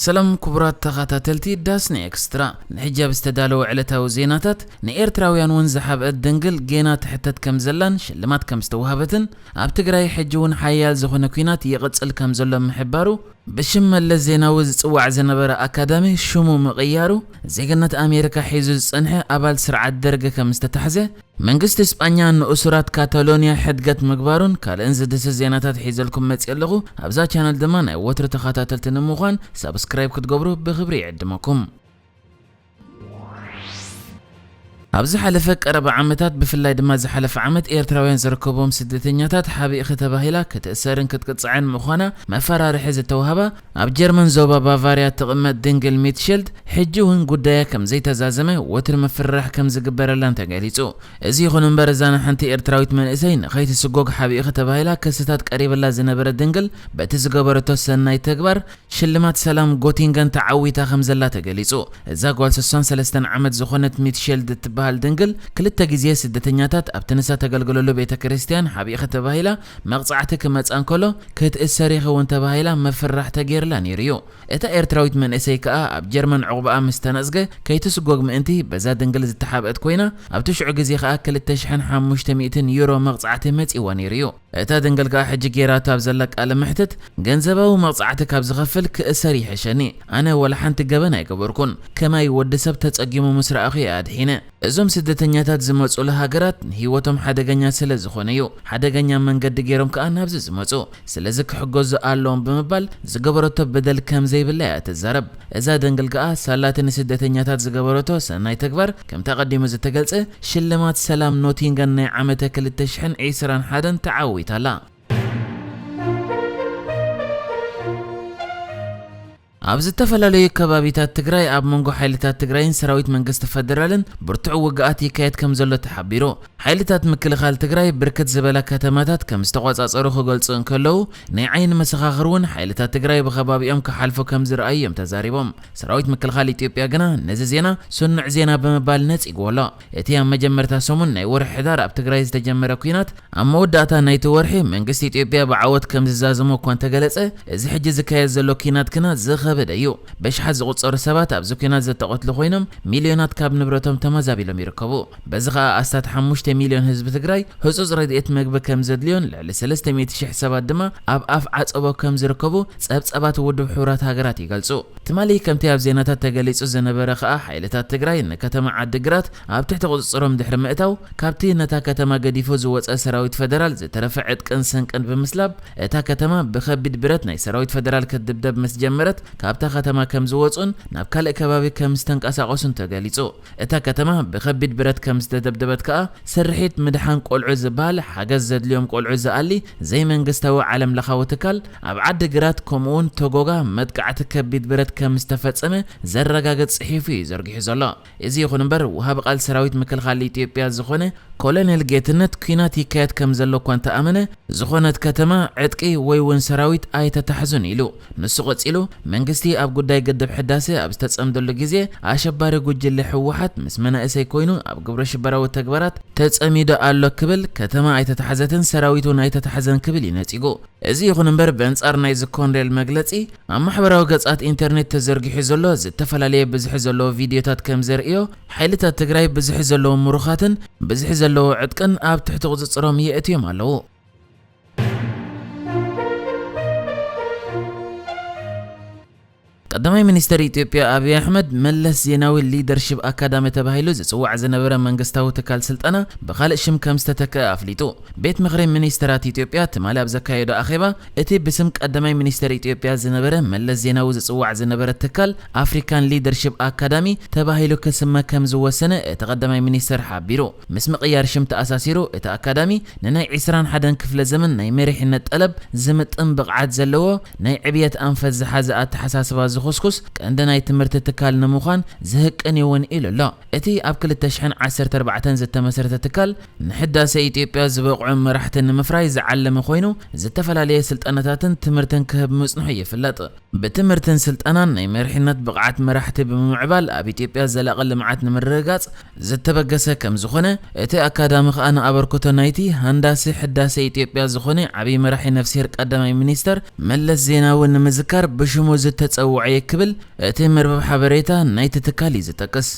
ሰላም ኩቡራት ተኻታተልቲ ዳስ ን ኤክስትራ ንሕጃብ ዝተዳለወ ዕለታዊ ዜናታት ን ኤርትራውያን ውን ዝሓብእት ድንግል ጌና ትሕተት ከም ዘላን ሽልማት ከም ዝተዋህበትን ኣብ ትግራይ ሕጂ ውን ሓያል ዝኾነ ኩናት ይቕጽል ከም ዘሎ ምሕባሩ ብሽም መለስ ዜናዊ ዝጽዋዕ ዝነበረ ኣካዳሚ ሽሙ ምቕያሩ ዜግነት ኣሜሪካ ሒዙ ዝጸንሐ ኣባል ስርዓት ደርግ ከም ዝተታሕዘ መንግስቲ ስጳኛ ንእሱራት ካታሎንያ ሕድገት ምግባሩን ካልእን ዝድህስስ ዜናታት ሒዘልኩም መጺኤ ኣለኹ። ኣብዛ ቻነል ድማ ናይ ወትሩ ተኻታተልቲ ንምዃን ሳብስክራይብ ክትገብሩ ብኽብሪ ይዕድመኩም። ኣብ ዝሓለፈ ቀረባ ዓመታት ብፍላይ ድማ ዝሓለፈ ዓመት ኤርትራውያን ዝርከብዎም ስደተኛታት ሓቢእኺ ተባሂላ ክትእሰርን ክትቅጻዕን ምዃና መፈራርሒ ዝተዋህባ ኣብ ጀርመን ዞባ ባቫርያ እትቕመጥ ድንግል ሚትሽልድ፣ ሕጂ እውን ጉዳያ ከም ዘይተዛዘመ ወትሪ ምፍርራሕ ከም ዝግበረላን ተገሊጹ። እዚ ይኹን እምበር እዛ ንሓንቲ ኤርትራዊት መንእሰይ ንኸይትስጎግ ሓቢእኺ ተባሂላ ክስታት ቀሪብላ ዝነበረ ድንግል በቲ ዝገበረቶ ሰናይ ተግባር ሽልማት ሰላም ጎቲንገን ተዓዊታ ከም ዘላ ተገሊጹ። እዛ ጓል ሰሳን ሰለስተን ዓመት ዝኾነት ሚትሽልድ እትበሃል ድንግል ክልተ ግዜ ስደተኛታት ኣብቲ ንሳ ተገልግለሉ ቤተ ክርስትያን ሓቢእኺ ተባሂላ መቕጻዕቲ ክመጽኣ እንከሎ ክትእሰር ኢኺ እውን ተባሂላ ምፍርራሕ ተገይርላ ነይሩ እዩ። እታ ኤርትራዊት መንእሰይ ከኣ ኣብ ጀርመን ዑቕባኣ ምስ ተነጽገ ከይትስጎግ ምእንቲ በዛ ድንግል ዝተሓብአት ኮይና ኣብቲ ሽዑ ግዜ ከኣ ክልተ ሽሕን ሓሙሽተ ሚእትን ዩሮ መቕጻዕቲ መጺእዋ ነይሩ እዩ። እታ ድንግል ከኣ ሕጂ ገይራቶ ኣብ ዘላ ቃለ መሕትት ገንዘባዊ መቕጻዕቲ ካብ ዝኸፍል ክእሰር ይሕሸኒ። ኣነ ዋላ ሓንቲ ገበን ኣይገበርኩን። ከማይ ወዲ ሰብ ተጸጊሙ ምስ ረኣኹ እየ ኣድሒነ። እዞም ስደተኛታት ዝመጹሉ ሃገራት ንህይወቶም ሓደገኛ ስለ ዝኾነ'ዩ ሓደገኛ መንገዲ ገይሮም ከኣ ናብዚ ዝመጹ። ስለዚ ክሕገዙ ኣለዎም ብምባል ዝገበረቶ በደል ከም ዘይብላ'ያ ትዛረብ። እዛ ደንግል ከኣ ሳላ'ቲ ንስደተኛታት ዝገበረቶ ሰናይ ተግባር ከምቲ ኣቐዲሙ ዝተገልጸ ሽልማት ሰላም ኖቲንገን ናይ ዓመተ ክልተ ሽሕን ዕስራን ሓደን ተዓዊታ'ላ። ኣብ ዝተፈላለዩ ከባቢታት ትግራይ ኣብ መንጎ ሓይልታት ትግራይን ሰራዊት መንግስቲ ፈደራልን ብርቱዕ ውግኣት ይካየድ ከምዘሎ ተሓቢሩ። ሓይልታት ምክልኻል ትግራይ ብርክት ዝበላ ከተማታት ከምዝተቖፃፀሩ ክገልፁ እንከለው፣ ናይ ዓይኒ መሰኻኽር እውን ሓይልታት ትግራይ ብኸባቢኦም ክሓልፉ ከምዝረኣዩ እዮም ተዛሪቦም። ሰራዊት ምክልኻል ኢትዮጵያ ግና ነዚ ዜና ስኑዕ ዜና ብምባል ነፂግዎ ኣሎ። እቲ ኣብ መጀመርታ ሰሙን ናይ ወርሒ ሕዳር ኣብ ትግራይ ዝተጀመረ ኲናት፣ ኣብ መወዳእታ ናይቲ ወርሒ መንግስቲ ኢትዮጵያ ብዓወት ከም ዝዛዘሞ እኳ እንተገለጸ፣ እዚ ሕጂ ዝካየድ ዘሎ ኲናት ግና ዝኸበደ እዩ። በሽሓት ዝቑጸሩ ሰባት ኣብዚ ኲናት ዘተቐትሉ ኮይኖም፣ ሚልዮናት ካብ ንብረቶም ተመዛቢሎም ይርከቡ። በዚ ከኣ ኣስታት ሓሙሽተ ሚልዮን ህዝቢ ትግራይ ህጹጽ ረድኤት መግቢ ከም ዘድልዮን ልዕሊ ሰለስተ ሚእቲ ሽሕ ሰባት ድማ ኣብ ኣፍ ዓጸቦ ከም ዝርከቡ ጸብጻባት ውድብ ሕቡራት ሃገራት ይገልጹ። ትማሊ ከምቲ ኣብ ዜናታት ተገሊጹ ዝነበረ ከኣ ሓይልታት ትግራይ ንከተማ ዓዲ ግራት ኣብ ትሕቲ ቁጽጽሮም ድሕሪ ምእታው ካብቲ ነታ ከተማ ገዲፉ ዝወጸ ሰራዊት ፈደራል ዝተረፈ ዕጥቅን ስንቅን ብምስላብ እታ ከተማ ብከቢድ ብረት ናይ ሰራዊት ፈደራል ክትድብደብ ምስ ጀመረት ካብታ ከተማ ከምዝወጹን ናብ ካልእ ከባቢ ከምዝተንቀሳቀሱን ተገሊጹ። እታ ከተማ ብከቢድ ብረት ከም ዝተደብደበት ከኣ ስርሒት ምድሓን ቆልዑ ዝበሃል ሓገዝ ዘድልዮም ቆልዑ ዝኣሊ ዘይመንግስታዊ ዓለም ለኻዊ ትካል ኣብ ዓዲ ግራት ከምኡ'ውን ቶጎጋ መጥቃዕቲ ከቢድ ብረት ከም ዝተፈጸመ ዘረጋግጽ ጽሒፉ እዩ ዘርጊሑ ዘሎ። እዚ ይኹን እምበር ወሃቢ ቃል ሰራዊት ምክልኻል ኢትዮጵያ ዝኾነ ኮለኔል ጌትነት ኲናት ይካየድ ከም ዘሎ እኳ እንተኣመነ ዝኾነት ከተማ ዕጥቂ ወይ'ውን ሰራዊት ኣይተታሕዙን ኢሉ። ንሱ ቀጺሉ፣ መንግስቲ ኣብ ጉዳይ ግድብ ሕዳሰ ኣብ ዝተጸምደሉ ግዜ፣ ኣሸባሪ ጉጅለ ህወሓት ምስ መናእሰይ ኮይኑ ኣብ ግብረሽበራዊ ተግባራት ተጸሚዱ ኣሎ ክብል፣ ከተማ ኣይተታሕዘትን ሰራዊት እውን ኣይተታሕዘን ክብል እዩ ነጺጉ። እዚ ይኹን እምበር ብኣንጻር ናይዚ ኮንሬል መግለጺ፣ ኣብ ማሕበራዊ ገጻት ኢንተርኔት ተዘርጊሑ ዘሎ ዝተፈላለየ ብዝሒ ዘለዎ ቪድዮታት ከምዘርእዮ፣ ሓይልታት ትግራይ ብዝሒ ዘለዎም ምሩኻትን ብዝሒ ዘለዎ ዕጥቅን ኣብ ትሕቲ ቁጽጽሮም የእትዮም ኣለዉ። ቀዳማይ ሚኒስተር ኢትዮጵያ ኣብይ ኣሕመድ፣ መለስ ዜናዊ ሊደርሺፕ ኣካዳሚ ተባሂሉ ዝጽዋዕ ዝነበረ መንግስታዊ ትካል ስልጠና ብኻልእ ሽም ከም ዝተተክኣ ኣፍሊጡ። ቤት ምኽሪ ሚኒስተራት ኢትዮጵያ ትማሊ ኣብ ዘካየዶ ኣኼባ፣ እቲ ብስም ቀዳማይ ሚኒስተር ኢትዮጵያ ዝነበረ መለስ ዜናዊ ዝጽዋዕ ዝነበረ ትካል ኣፍሪካን ሊደርሺፕ ኣካዳሚ ተባሂሉ ክስመ ከም ዝወሰነ እቲ ቀዳማይ ሚኒስተር ሓቢሩ። ምስ ምቕያር ሽም ተኣሳሲሩ እቲ ኣካዳሚ ንናይ ዕስራን ሓደን ክፍለ ዘመን ናይ መሪሕነት ጠለብ ዝምጥን ብቕዓት ዘለዎ ናይ ዕብየት ኣንፈት ዝሓዘ ኣተሓሳስባ ዝኹስኩስ ቀንዲ ናይ ትምህርቲ ትካል ንምዃን ዝህቅን እዩ እውን ኢሉ ኣሎ። እቲ ኣብ ክልተ ሽሕን ዓሰርተ ኣርባዕተን ዝተመስረተ ትካል ንሕዳሰ ኢትዮጵያ ዝበቕዑ መራሕቲ ንምፍራይ ዝዓለመ ኮይኑ ዝተፈላለየ ስልጠናታትን ትምህርትን ክህብ ምጽንሑ ይፍለጥ። ብትምህርትን ስልጠናን ናይ መሪሕነት ብቕዓት መራሕቲ ብምምዕባል ኣብ ኢትዮጵያ ዘላቒ ልምዓት ንምርግጋፅ ዝተበገሰ ከምዝኾነ እቲ ኣካዳሚ ከዓ ንኣበርክቶ ናይቲ ሃንዳሲ ሕዳሴ ኢትዮጵያ ዝኾነ ዓብዪ መራሒ ነፍስሄር ቀዳማይ ሚኒስተር መለስ ዜናዊ ንምዝካር ብሽሙ ዝተፀውዐ እየ ክብል እቲ መርበብ ሓበሬታ ናይቲ ትካል እዩ ዝጠቅስ።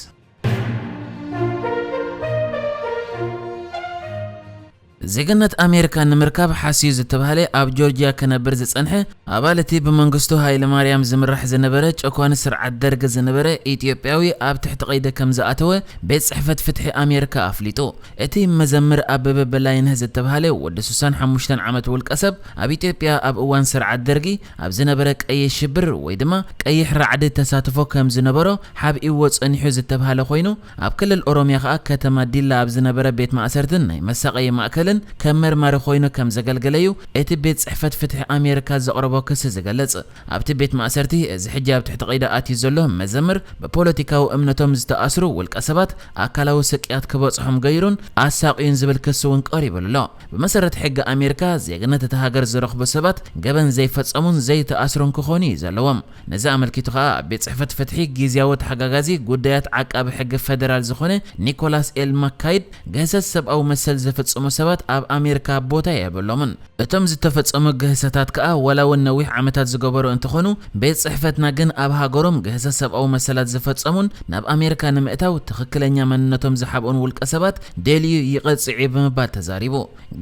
ዜግነት ኣሜሪካ ንምርካብ ሓስዩ ዝተባህለ ኣብ ጆርጅያ ክነብር ዝጸንሐ ኣባል እቲ ብመንግስቱ ሃይለማርያም ዝምራሕ ዝነበረ ጨኳኒ ስርዓት ደርግ ዝነበረ ኢትዮጵያዊ ኣብ ትሕቲ ቀይዲ ከም ዝኣተወ ቤት ጽሕፈት ፍትሒ ኣሜሪካ ኣፍሊጡ። እቲ መዘምር ኣበበ በላይነህ ዝተባህለ ወዲ ሱሳን ሓሙሽተን ዓመት ውልቀሰብ ኣብ ኢትዮጵያ ኣብ እዋን ስርዓት ደርጊ ኣብ ዝነበረ ቀይሕ ሽብር ወይ ድማ ቀይሕ ራዕዲ ተሳትፎ ከም ዝነበሮ ሓብኢዎ ጸኒሑ ዝተብሃለ ኮይኑ፣ ኣብ ክልል ኦሮሚያ ከኣ ከተማ ዲላ ኣብ ዝነበረ ቤት ማእሰርትን ናይ መሳቐዪ ማእከልን ከም መርማሪ ኮይኑ ከም ዘገልገለ'ዩ እቲ ቤት ጽሕፈት ፍትሒ ኣሜሪካ ዘቕረቦ ክሲ ዝገልጽ። ኣብቲ ቤት ማእሰርቲ እዚ ሕጂ ኣብ ትሕቲ ቀይዲ ኣትዩ ዘሎ መዘምር ብፖለቲካዊ እምነቶም ዝተኣስሩ ውልቀሰባት ኣካላዊ ስቅያት ክበጽሖም ገይሩን ኣሳቕዩን ዝብል ክሲ እውን ቀሪቡሉ ኣሎ። ብመሰረት ሕጊ ኣሜሪካ፣ ዜግነት እታ ሃገር ዝረኽቡ ሰባት ገበን ዘይፈጸሙን ዘይተኣስሩን ክኾኑ እዩ ዘለዎም። ነዚ ኣመልኪቱ ከኣ ኣብ ቤት ጽሕፈት ፍትሒ ጊዝያዊ ተሓጋጋዚ ጉዳያት ዓቃቢ ሕጊ ፈደራል ዝኾነ ኒኮላስ ኤል ማካይድ፣ ግህሰት ሰብኣዊ መሰል ዝፍጽሙ ሰባት ኣብ ኣሜሪካ ቦታ የብሎምን። እቶም ዝተፈጸሙ ግህሰታት ከኣ ዋላ'ውን ነዊሕ ዓመታት ዝገበሩ እንተኾኑ፣ ቤት ጽሕፈትና ግን ኣብ ሃገሮም ግህሰት ሰብኣዊ መሰላት ዝፈጸሙን ናብ ኣሜሪካ ንምእታው ትኽክለኛ መንነቶም ዝሓብኡን ውልቀሰባት ደልዩ ይቐጽዕ እዩ ብምባል ተዛሪቡ።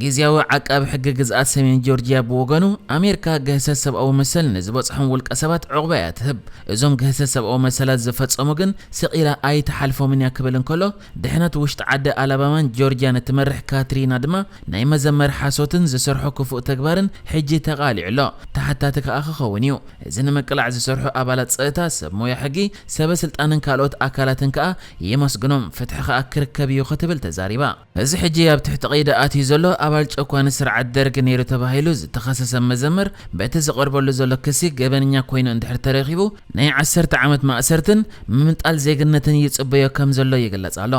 ግዝያዊ ዓቃቢ ሕጊ ግዝኣት ሰሜን ጆርጅያ ብወገኑ፣ ኣሜርካ ግህሰት ሰብኣዊ መሰል ንዝበጽሖም ውልቀሰባት ዑቕባ እያ ትህብ፣ እዞም ግህሰት ሰብኣዊ መሰላት ዝፈጸሙ ግን ስቕ ኢላ ኣይትሓልፎምን እያ ክብል እንከሎ፣ ድሕነት ውሽጢ ዓዲ ኣላባማን ጆርጅያን እትመርሕ ካትሪና ድማ ናይ መዘመር ሓሶትን ዝሰርሖ ክፉእ ተግባርን ሕጂ ተቓሊዑ ኣሎ፣ ተሓታቲ ከኣ ክኸውን እዩ። እዚ ንምቅላዕ ዝሰርሑ ኣባላት ጸጥታ፣ ሰብ ሞያ ሕጊ፣ ሰበ ስልጣንን ካልኦት ኣካላትን ከኣ የመስግኖም፣ ፍትሒ ከኣ ክርከብ እዩ ክትብል ተዛሪባ። እዚ ሕጂ ኣብ ትሕቲ ቀይዲ ኣትዩ ዘሎ ኣባል ጨኳኒ ስርዓት ደርግ ነይሩ ተባሂሉ ዝተኸሰሰ መዘምር በቲ ዝቐርበሉ ዘሎ ክሲ ገበነኛ ኮይኑ እንድሕር ተረኺቡ ናይ ዓሰርተ ዓመት ማእሰርትን ምምንጣል ዜግነትን ይጽበዮ ከም ዘሎ ይግለጽ ኣሎ።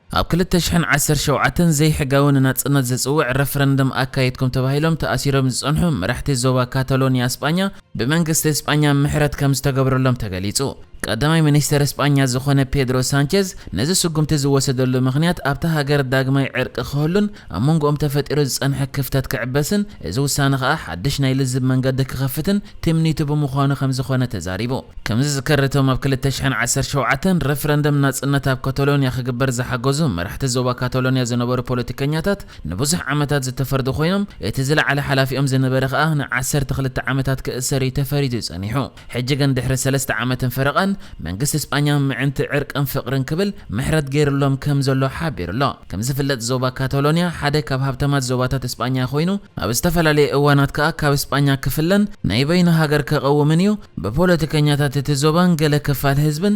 ኣብ ክልተ ሽሕን ዓሰርተ ሸውዓተን ዘይሕጋዊ ንናጽነት ዝጽውዕ ረፍረንደም ኣካይድኩም ተባሂሎም ተኣሲሮም ዝጸንሑ መራሕቲ ዞባ ካታሎንያ ስጳኛ ብመንግስቲ ስጳኛ ምሕረት ከም ዝተገብረሎም ተገሊጹ። ቀዳማይ ሚኒስተር ስጳኛ ዝኾነ ፔድሮ ሳንቸዝ ነዚ ስጉምቲ ዝወሰደሉ ምኽንያት ኣብታ ሃገር ዳግማይ ዕርቂ ክህሉን ኣብ መንጎኦም ተፈጢሩ ዝጸንሐ ክፍተት ክዕበስን እዚ ውሳነ ከኣ ሓድሽ ናይ ልዝብ መንገዲ ክኸፍትን ትምኒቱ ብምዃኑ ከምዝኾነ ተዛሪቡ። ከምዝዝከር እቶም ኣብ ክልተ ሽሕን ዓሰርተ ሸውዓተን ረፍረንደም ናጽነት ኣብ ካታሎንያ ክግበር ዝሓገዙ መራሕቲ ዞባ ካታሎንያ ዝነበሩ ፖለቲከኛታት ንብዙሕ ዓመታት ዝተፈርዱ ኮይኖም እቲ ዝለዓለ ሓላፊኦም ዝነበረ ከኣ ንዓሰርተ ክልተ ዓመታት ክእሰር እዩ ተፈሪዱ ጸኒሑ። ሕጂ ግን ድሕሪ ሰለስተ ዓመትን ፈረቓን፣ መንግስቲ ስጳኛ ምዕንቲ ዕርቅን ፍቕርን ክብል ምሕረት ገይርሎም ከም ዘሎ ሓቢሩ ኣሎ። ከም ዝፍለጥ ዞባ ካታሎንያ ሓደ ካብ ሃብታማት ዞባታት ስጳኛ ኮይኑ፣ ኣብ ዝተፈላለየ እዋናት ከኣ ካብ ስጳኛ ክፍለን ናይ በይኑ ሃገር ከቐውምን እዩ፣ ብፖለቲከኛታት እቲ ዞባን ገለ ክፋል ህዝብን